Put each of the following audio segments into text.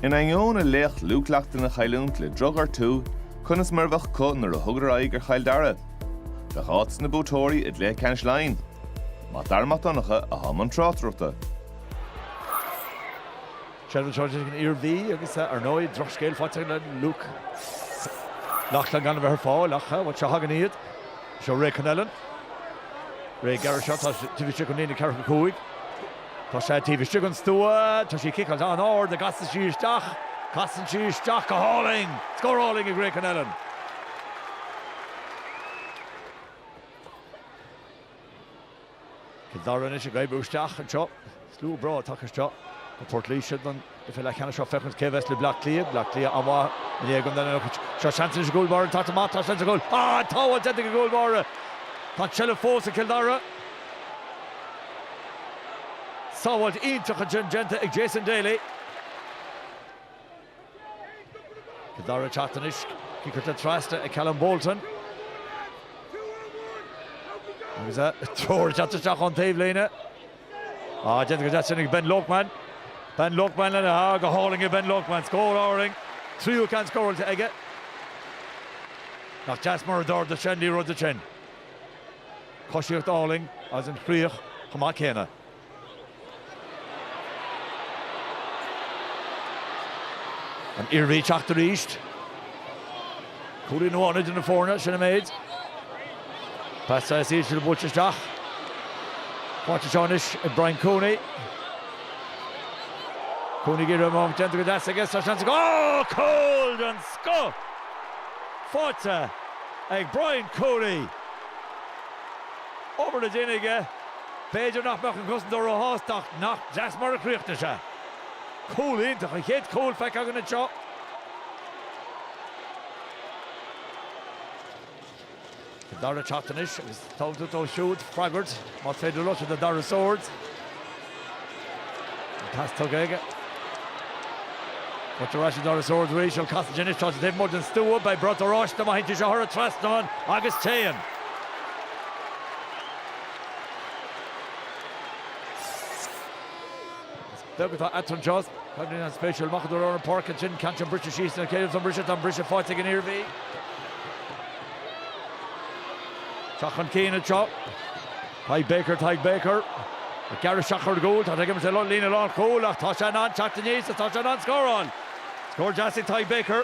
In ainneoin a laoch Luke Loughlin a chailliúint le drochghortú, conas mar a bheadh acu nuair a thugadar aghaidh ar Chill Dara? Bheadh áit dos na buaiteoirí i gcluiche ceannais Laighin. Mac Dara Mac Donncha atá i mbun tráchtaireachta. Seilbh anseo ag an Iarmhí agus, ar ndóigh, drochscéal faighte le Luke Loughlin gan a bheith ar fáil ach seo a thagann iad. Seo Ray Connellan. Ray ag gearradh isteach, tá sé taobh istigh den líne ceathracha cúig. Tá sé taobh istigh den stua. Tá sí ciceáilte in airde. An gcasann sí isteach? Casann sí isteach go hálainn. Scór álainn ag Ray Connellan. Cill Dara anois ag oibriú isteach anseo. Slua breá tagtha isteach go Port Laoise don. chluiche leathcheannais seo féachaint cé a bheas le Bleá Cliath. Bleá Cliath an-mhaith i ndiaidh an duine anocht. Seo seans anois a gcúl báire. Tá sé maith. Tá seans ar chúl. Tá an tsábháil déanta ag an gcúl báire. Tá an tseilbh fós ag Cill Dara. Sábháilt iontach ansin déanta ag Jason Daly. Cill Dara ag teacht anois. Cic curtha trasna ag Callum Bolton. Agus treoir déanta isteach ón taobhlíne. Déanta go deas ansin ag Ben Loakman. Ben Loakman lena shá, go hálainn ag Ben Loakman. Scór álainn, tríú ceann scóráilte aige. Nach deas mar a d'ardaigh sé an liathróid ansin. Coisíocht álainn agus an chríoch chomh maith céanna. An Iarmhí ag teacht arís. Cúilín amháin idir na foirne, sin an méid. Pas saghas íseal buailte isteach. Faighte anseo anois ag Brian Cooney. Cooney ag iarraidh am déanta go deas aige, tá seans aige, oh! Cúl den scoth! Faighte ag Brian Cooney. Obair le déanamh aige, b'fhéidir nach mbeadh an cosantóir ró-shásta ach nach deas mar a chríochnaigh sé. Cúl iontach, an chéad chúl feicthe againn anseo. Cill Dara ag teacht anois agus tá orthu siúd freagairt más féidir leo, Darragh Swords. An pas tugtha aige. Buailte ar ais chuig Darragh Swords arís, casta aige anois tá sé taobh amuigh den stua, beidh brat oráiste má théann sé seo thar an trasnán agus téann. Beag atá eatarthu just. Tá sé an-spéisiúil amach anoir ar an bpáirc ansin, ceann sin briste síos, cé aige a bheas an briseadh, tá an briseadh faighte ag an Iarmhí. Teacht chun cinn anseo. Tadhg Baker, Tadhg Baker. Ag gearradh isteach ar an gcúl, tá Tadhg Emerson lom, líne an chúil ach tá sé in ann teacht aníos agus tá sé in ann scóráil. Scór deas ag Tadhg Baker.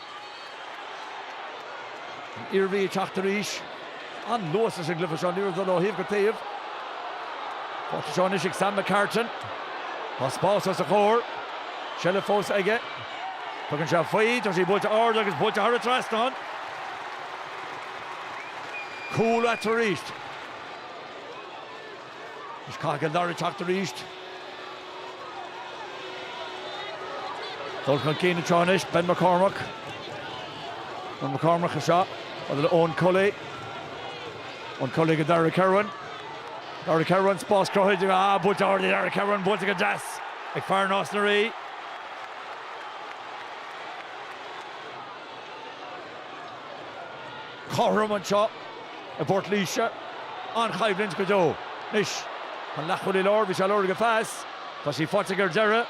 An Iarmhí ag teacht arís. An-luas leis an gcluiche seo. Liathróid ag dul ó thaobh go taobh. Faighte anseo anois ag Sam McCartan. Tá spás os a chomhair. Seilbh fós aige. Tugann sé faoi. Tá sí buailte ard agus buailte thar an trasnán. Cúl eatarthu arís. Anois caithfidh Cill Dara teacht arís. Dul chun cinn anseo anois, Ben McCormack. Ben McCormack anseo, fada le Eoin Cully. Eoin Cully go Darragh Kirwan. Darragh Kirwan, spás cruthaithe aige, buailte ard ag Darragh Kirwan, buailte go deas ag fear Nás na Rí. cothrom anseo i bPort Laoise. An-choimhlint go deo. Anois, an leathchúlaí láir, bhí sé ag lorg an phas. Tá sí faighte aige ar deireadh.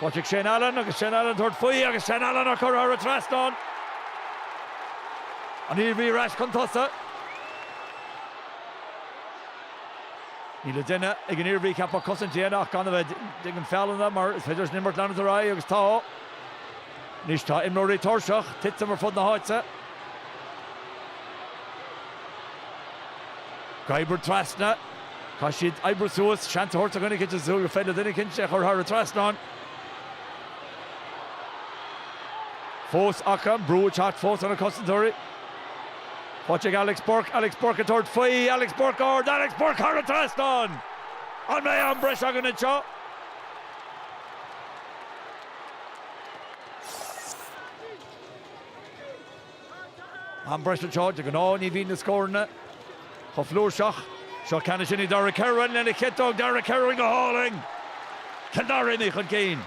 Faighte ag Shane Allen agus Shane Allen ag tabhairt faoi agus Shane Allen á cur thar an trasnán. An Iarmhí ar ais chun tosaigh. Níl le déanamh ag an Iarmhí, ceapaim, cosaint a dhéanamh ach gan a bheith ag déanamh feallanna mar is féidir leis an imirt leanúint ar aghaidh agus tá. Anois tá imreoirí tuirseach, titim ar fud na háite. Ag oibriú trasna, caithfidh siad oibriú suas, seans a thabhairt do dhuine eicint, is súil gur féidir le duine eicint é a chur thar an trasnán. Fós acu, an brú ag teacht fós ar na cosantóirí. Faighte ag Alex Burke, Alex Burke ag tabhairt faoi, Alex Burke ard, Alex Burke thar an trasnán! An mbeidh am breise againn anseo? Am breise anseo, de ghnáth ní bhíonn na scóranna chomh flúirseach. Seo ceann ansin ag Darragh Kirwan lena chiotóg. Darragh Kirwan go hálainn! Cill Dara imithe chun cinn.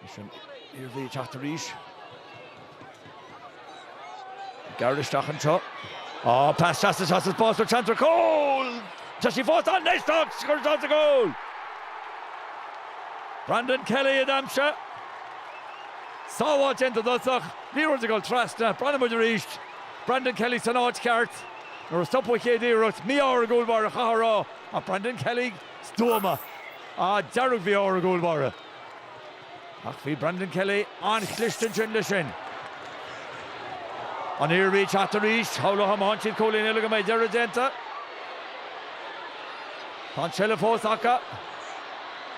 Leis an Iarmhí ag teacht arís. Gearradh isteach anseo. Oh, pas deas tá spás ann, seans ar chúl! Tá sí fós ann! Anois tá sí curtha sa gcúl! Brandon Kelly ag aimsiú. Sábháil déanta ar dtús ach liathróid ag dul trasna. Breathnóidh muid arís. Brandon Kelly san áit cheart. Nuair a stopadh an chéad iarracht. Mí-ádh ar an gcúl báire chaithfeá a rá. Ach Brandon Kelly. stuama, ah dearg-mhí-ádh ar an gcúl báire ach bhí Brandon Kelly an-chliste ansin leis sin. An Iarmhí ag teacht arís, shamhlófá má fhaigheann siad cúilín eile go mbeidh deireadh déanta. Tá an seilbh fós acu.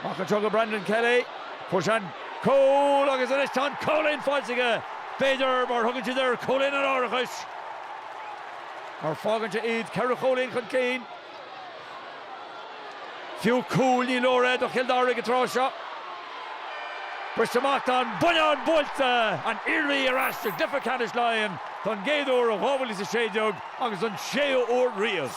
Amach anseo go Brandon Kelly, fuair sé an cúl agus anois tá an cúilín faighte aige, b'fhéidir mar thugann siad air cúilín an árachais mar fágann sé iad ceithre chúilín chun cinn. Fiú cúl ní leor é do Chill Dara ag an tráth seo. Briste amach tá an buinneán buailte! An Iarmhí ar ais sa gcluiche ceannais Laighean don gcéad uair ó 2016 agus don séú huair riamh.